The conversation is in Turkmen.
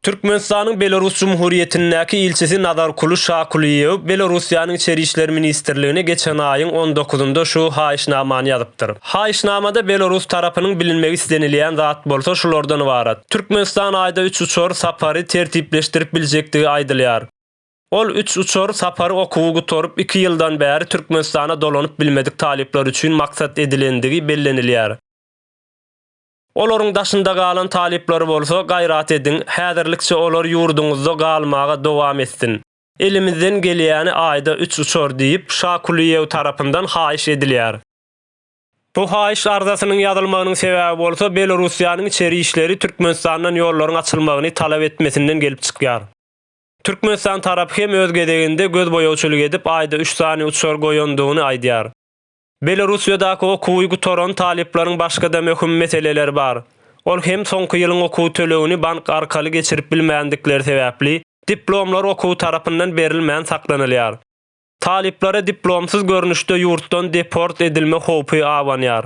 Türkmenistanyň Belarus Cumhuriyetindäki ilçisi Nazar Kuly Şakuliýew Belarussiýanyň Içeri işler ministrligine geçen aýyň on dokuzynda şu haýyşnamany ýazypdyr. Haýyşnamada Belarus tarapynyň bilinmegi islenilýän zat bolsa şulardan ybarat, Türkmenistan aýda üç uçar sapary tertipleşdirip biljekdigi aýdylýar. Ol üç uçar sapary okuwy gutaryp, iki ýyldan bäri Türkmenistana dolanyp bilmedik talyplar üçin maksat edilendigi bellenilýär. Olaryň daşynda galan talyplary bolsa, gaýrat ediň, häzirlikçe olar ýurduňyzda galmaga dowam etsin. Elimizden gelýäni aýda üç uçar diýip, Şa Kulyýew tarapyndan haýyş edilýär. Bu haýyş arzasynyň ýazylmagynyň sebäbi bolsa, Belorussiýanyň içeri işleri Türkmenistandan ýollaryň açylmagyny talap etmesinden gelip çykýar. Türkmenistan tarapy hem öz gezeginde gözboýagçylyk edip aýda üç sany uçar goýandygyny aýdýar. Belorussiýadaky okuwy gutaran talyplaryň başga-da möhüm meseleleri bar. Ol hem soňky ýylyň okuw tölegini bank arkaly geçirip bilmändikleri sebäpli, diplomlar okuw tarapyndan berilmän saklanylýar. Talyplara diplomsyz görnüşde ýurtdan deport edilme howpy abanýar.